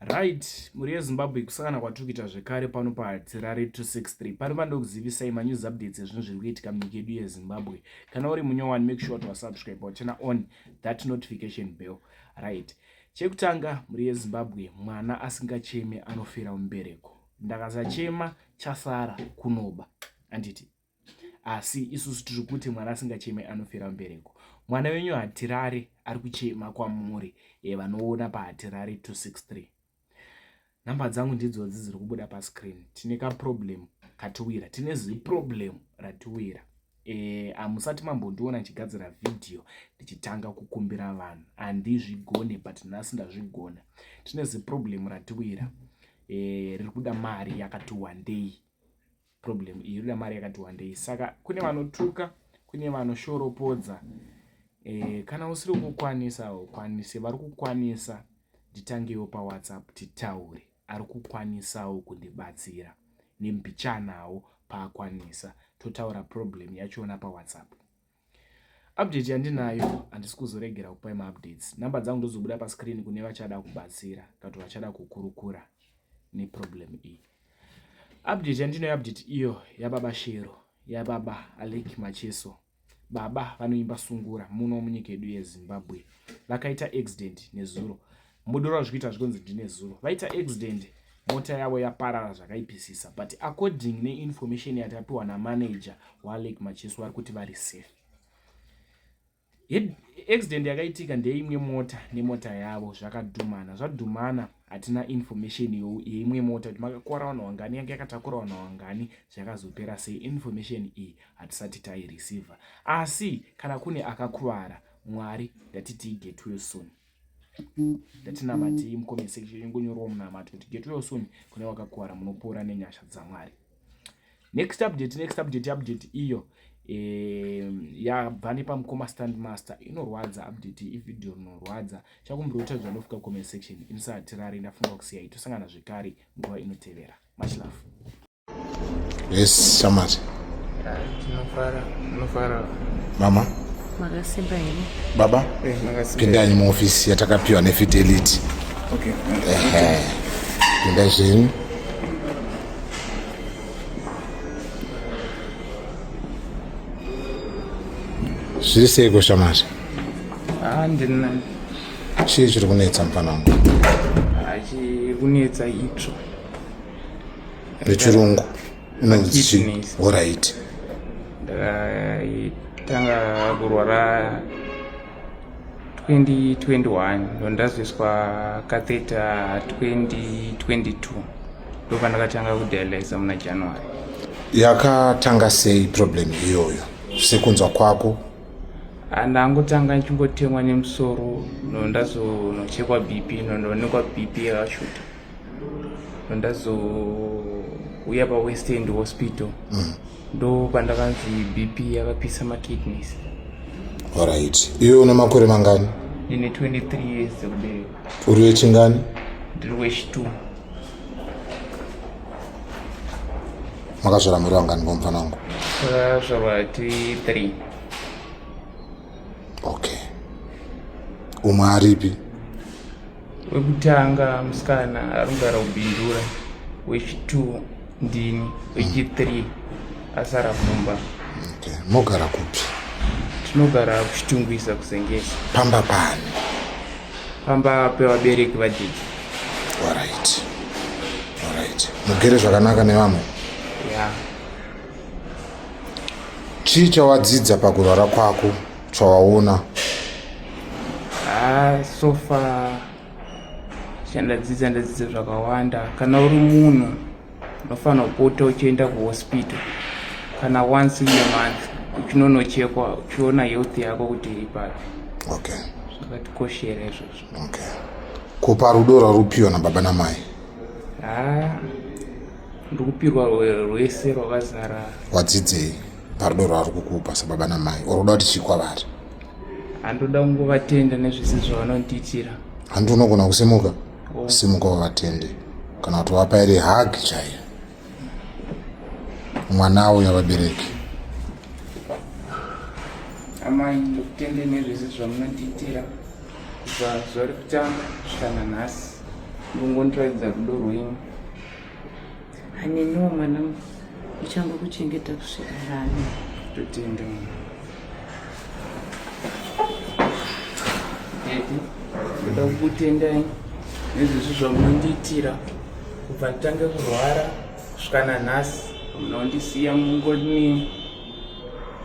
Right, mhuri yeZimbabwe kusangana kwatiri kuita zvekare pano paHatirare 263. Pano pandokuzivisai manews updates ezvinhu zviri kuitika munyika yedu yeZimbabwe. Kana uri munyowani, make sure to subscribe or turn on that notification bell. Right. Chekutanga, mhuri yeZimbabwe, mwana asingacheme anofira mubereko. Ndakasachema chasara kunoba. Anditi. asi isusu tiri kuti mwana asingacheme anofira mbereko mwana wenyu hatirare ari kuchema kwamuri e, vanoona pahatirare 263 nhamba dzangu ndidzodzi dziri kubuda pascreen tine kaproblem katiwira tine ziproblem ratiwira e, amusati mambondiona ndichigadzira vhidhiyo ndichitanga kukumbira vanhu handizvigone but nhasi ndazvigona tine ziproblem ratiwira e, riri kuda mari yakati wandei problem iyi inoda mari yakati wandei saka kune vanotuka kune vanoshoropodza e, kana usiri kukwanisa ukwanise vari kukwanisa nditangewo pawhatsapp titaure ari kukwanisawo kundibatsira nembichanawo paakwanisa totaura problem yachona pawhatsapp Update yandinayo handisi kuzoregera kupai maupdates. Number dzangu ndozobuda pascreen kune vachada kubatsira kana kuti vachada kukurukura neproblem iyi. Update yandinayo update iyo yababa Shero, yababa Alec Macheso. Baba vanoimba sungura muno munyika yedu yeZimbabwe vakaita accident nezuro mudoro azvikuita zvikonzi ndine zuro vaita accident mota yavo yaparara zvakaipisisa but according neinformation yatapiwa namanager walake macheso vari kuti vari safe accident yakaitika ndeimwe mota nemota yavo zvakadhumana zvadhumana hatina information yeimwe mota kuti makakora vanhu wangani yange yakatakura vanhu wangani zvakazopera sei information iyi hatisati taireceiver asi kana kune akakuvara mwari ndatiti igetwilson ndatinamatei mucomment section ingonyorwa munamato kuti get well soon kune wakakuvara munopora nenyasha dzamwari next update next update update iyo yabva nepamukoma stand master inorwadza update ivideo rinorwadza chakumbiroita zvanofika comment section insati rari ndafunga kusiya itosangana zvekare nguva inotevera much love yes shamari tinofara tinofara mama makasimba here baba Eh, makasimba. pindai muofisi yatakapiwa nefidelity Okay. Ehe. pindai zvenyu zviri seiko shamari Ah, ndina chii chiri kunetsa mfanangu achikunetsa itsvo nechirungu inonzi chii horaiti ndakaitanga kurwara 2021 ndondazoiswa katheta 2022 ndopandakatanga kudialysa muna january yakatanga sei problem iyoyo sekunzwa kwako andangotanga ndichingotemwa nemusoro nondazonochekwa bp nondoonekwa bp yakashuta ndazouya pawest end hospital mm. ndo pandakanzi bp yakapisa makidneys orit iwe une makore mangani ndine 23 years ekubereka uri wechingani ndiri wechitw makazvara muri vangani komufana wangu takazvarwa tiri three okay umwe aripi wekutanga musikana arikugara kubindura wechitwo ndini wechithree asara kumba okay. mogara kupi tinogara kuchitungwisa kusengesa pamba pani pamba pevabereki vadiki orit orit mugere zvakanaka nevamwe ya yeah. chii chawadzidza pakurwara kwako Chawaona? Ah, so far chandadzidza ndadzidza zvakawanda. Kana uri munhu unofanira kupota uchienda kuhospital kana once in a month uchinonochekwa uchiona health yako kuti iri papi. Okay. Zvakatikoshera izvozvo. Okay. Kupa rudo rwarupiwa nababa namai? Ah, ndikupirwa rwese rwakazara. Wadzidzei? parudo rwavari kukupa sababa namai or uda kuti chii kwavari handoda kungovatenda nezvese zvavanondiitira handi unogona kusimuka oh. simuka wavatende kana kuti wapa iri hag chaiyo mwana awo yavabereki amai ndokutende nezvese zvamunondiitira kubva zvari kutanga zvikana nhasi ndongondiratidza rudo rwenyu Haniniwo mwanangu, uchango kuchengeta kusvika rani. Totenda mwana. Ndoda kukutendai nezvezvi zvamunondiitira kubva nditange kurwara kusvika nanhasi munondisiya mungoni.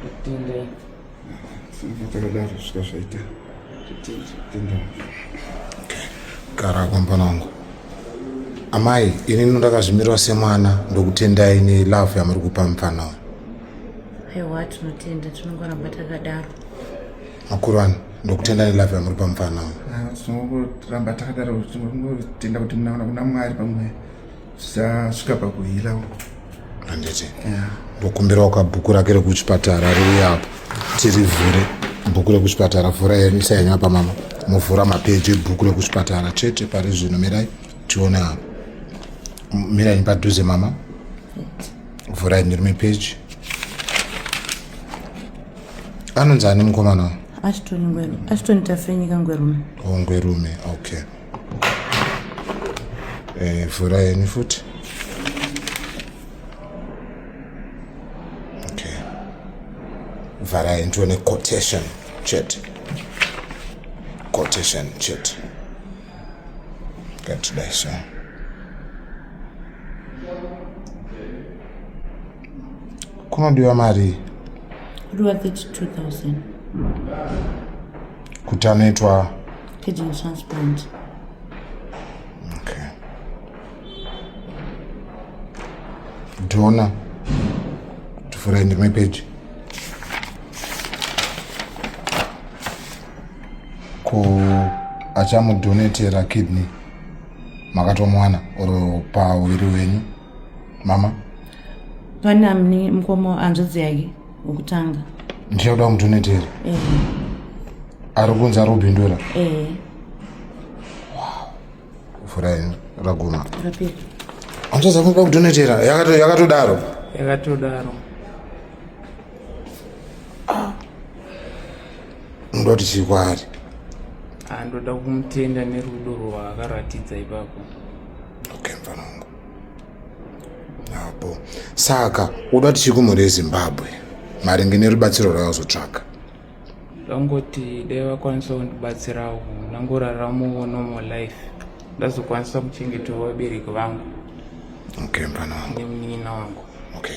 Totendai. takadaro svika zvaita gara kwambana wangu amai ini ndakazvimirwa semwana ndokutendai nelove yamuri kupa mupfana uyu aiwa tinotenda tinongoramba takadaro makuru ano ndokutenda nelove yamuri pa mufana uyu ah, tinongoramba takadaro tinotenda kuti munaona kuna mwari pamweya zvichasvika pakuhila handiti ndokumbirawo kabhuku rake rekuchipatara riuye apo tirivhure bhuku rekuchipatara vhura isayanywa pamama movhura mapeji ebhuku rekuchipatara chete pari zvino mirai tione apo mirai padhuze mama vhurai ndirume peji anonzi ani mukomana achitoni ngwerume achitoni tafenyika ngwerume o oh, ngwerume okay Eh, vhura yeni futi okay vharai ndione quotation chete quotation chete ngatidai so kunodiwa marii kudiwa 32000 kuti anoitwa kidney transplant okay dona tivhurai ndimwe peji ko achamudonetera kidney makatomwana or pauviri wenyu mama pana mni mkomo hanzvadzi yake wokutanga ndiye kuda kundonetera eh. ari kunzi ari kubindura eh. furai raguma rapera hanzvadzi akuda kudonetera yakatodaro yakatodaro unoda kuti chii kwaari andoda ah, kumutenda nerudo rwaakaratidza ipapo okay mfanangu apo saka uda kuti chikumhuri yezimbabwe maringe nerubatsiro rwavazotsvaka ndangoti dai vakwanisa kundibatsirawo ndangoraramawo normal life ndazokwanisa kuchengetawo vabereki vangu okay mfana wangu nemunin'ina wangu okay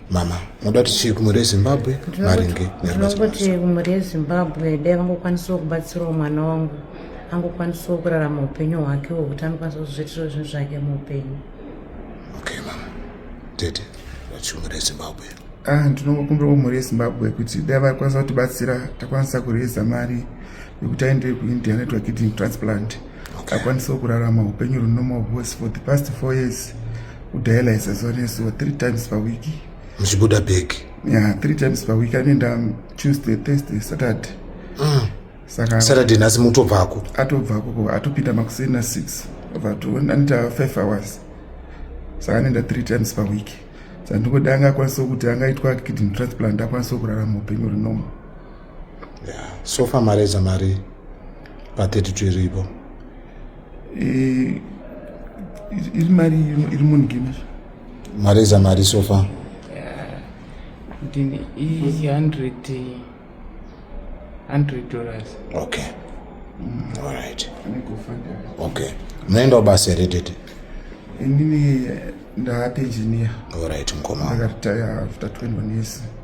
mama moda kuti chii kumhuri yezimbabwe maringe nerubatirinongokuti mhuri yezimbabwe dai vangokwanisawo kubatsirawo mwana wangu angokwanisawo kurarama upenyu hwake hwekuti anokwanisa kuzviitirawo zvinhu zvake muupenyu okay mama tete vati mhuri yezimbabwe ah, ndinongokumbirawo mhuri yezimbabwe kuti dai vakwanisa kutibatsira takwanisa kureza mari yekuti aende kuindia network kidney transplant okay. akwanisawo kurarama upenyu runomo hwose for the past four years kudialysa zuva nezuva three times per week muchibuda bag yeah three times per week anoenda tuesday thursday saturday mm. saka saturday nhasi mutobvako atobvako ko atopinda makuseni na six anoita five hours saka anoenda three times per week saka ndingoda anga akwanisawo kuti angaitwa kidney transplant akwanisawo kurarama upenyu rinoma yeah. so far mareza mari pa 32 iripo eh, iri mari iri munigina mareza mari so far ndini i 100 100 dollars okay mm. all right okay munoendawo basa here tete inini ndaate engineer all right mkoma ndakaritaya after 21 years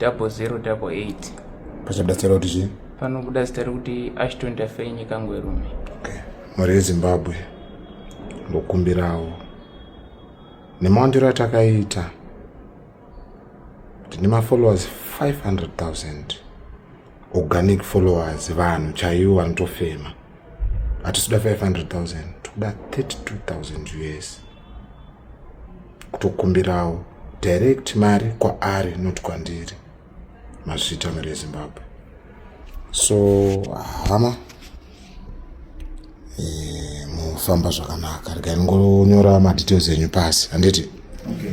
double zero double eight pachabuda zita rekuti chii panobuda zita rekuti ashton tafei nyika ngwerume okay. mhuri yezimbabwe ndokumbirawo nemawandiro atakaita tine mafollowers 500000 organic followers vanhu chaivo vanotofema hatisuda 500000 tokuda 32000 us kutokumbirawo direct mari kwaari not kwandiri mazvita mari yezimbabwe so hama eh, mufamba zvakanaka regai ndingonyora madetails enyu pasi handiti okay.